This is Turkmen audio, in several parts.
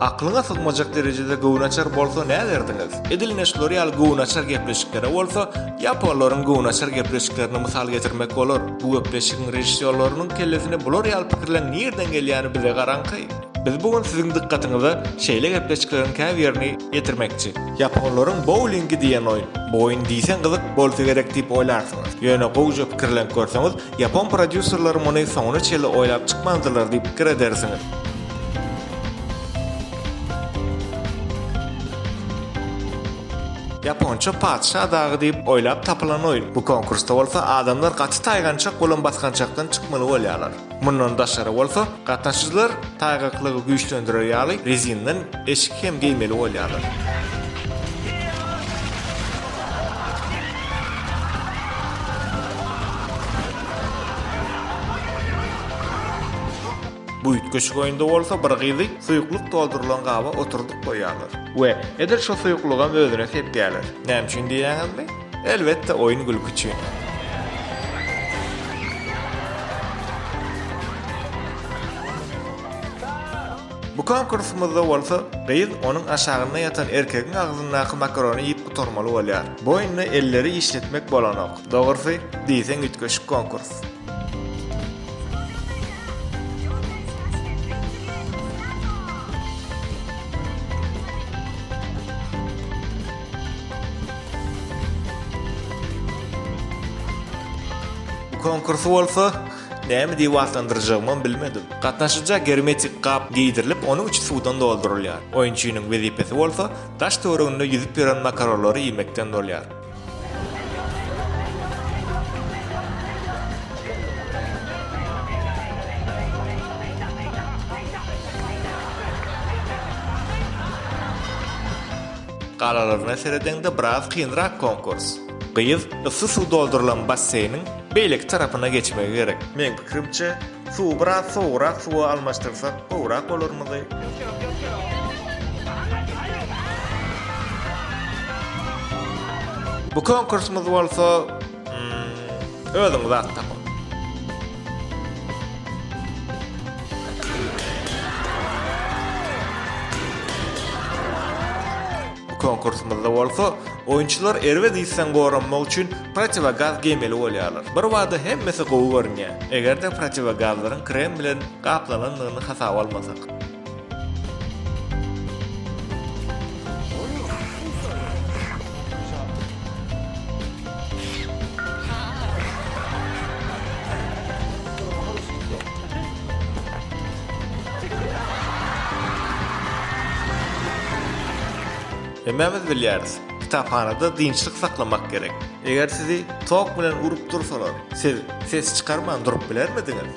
Aklyňa sygmajak derejede göwnaçar bolsa näderdiňiz? Edil ine şular ýaly göwnaçar gepleşiklere bolsa ýaponlaryň göwnaçar gepleşiklerini mysal getirmek bolar. Bu gepleşigiň režissýorlarynyň kellesine bular ýaly pikirleň nirden gelýäni bize garaňky. Biz bu gün siziň dykgatyňyza şeýle gepleşikleriň käbirini ýetirmekçi. Ýaponlaryň boulingi diýen oýun. Bu oýun diýseň gyzyk bolsa gerek diýip oýlarsyňyz. Ýöne gowja pikirlenip görseňiz, Ýapon prodýuserleri muny soňuna çenli oýlap çykmandylar diýip pikir edersiňiz. Ýaponça Patyşa dagy diýip oýlap tapylan oýun. Bu konkursda bolsa adamlar gaty taýgançak bolan basgançakdan çykmaly bolýarlar. Mundan daşary bolsa, Gatnaşyjylar taýgaklygy güýçlendirer ýaly rezindan eşik hem geýmeli bolýarlar. Bu üýtgeşik oýunda bolsa bir gyzy suýuklyk doldurylan gaba oturdyp goýýarlar we edil şo suýuklygam özüne sepýärler. Näme üçin diýýäňizmi? Elbetde oýun gülki üçin. Bu konkursymyzda bolsa gyz onuň aşagynda ýatan erkegiň agzyndaky makarony iýip gutarmaly bolýar. Bu oýunda elleri işletmek bolanok. Dogrusy, diýseň üýtgeşik konkurs. Bu konkursy bolsa näme diýip atlandyrjagymam bilmedim. Gatnaşyja germetik gap geýdirilip, onuň içi suwdan doldurylýar. Oýunçynyň wezipesi bolsa daş töwereginde ýüzüp ýören makaronlary iýmekden bolýar. Galalaryna seredeňde biraz kynrak konkurs. Gyz yssy suw doldurylan basseýniň beýleki tarapyna geçmegi gerek. Meň pikirimçe, suwy biraz sowugrak suwa almaşdyrsak gowrak bolarmydy? Bu konkursymyz bolsa Özüňiz at tapyň. Bu konkursymyzda bolsa, oýunçylar erbet ysdan goranmak üçin protiwogaz geýmeli bolýarlar. Birbada hemmesi gowy görünýär, eger-de protiwogazlaryň krem bilen gaplanandygyny hasaba almasak. Hemmämiz bilýäris, kitaphanada dynçlyk saklamak gerek. Eger sizi tok bilen urup dursalar, siz ses çykarman durup bilermidiňiz?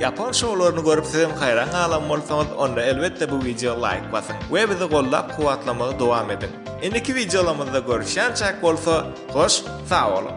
Ýapon şoularyny görüp sizem haýran galan bolsaňyz onda elbetde bu wideo laýk basyň we bizi gollap kuwwatlamagy dowam ediň. Indiki wideolarymyzda görüşýänçäk bolsa hoş sag boluň.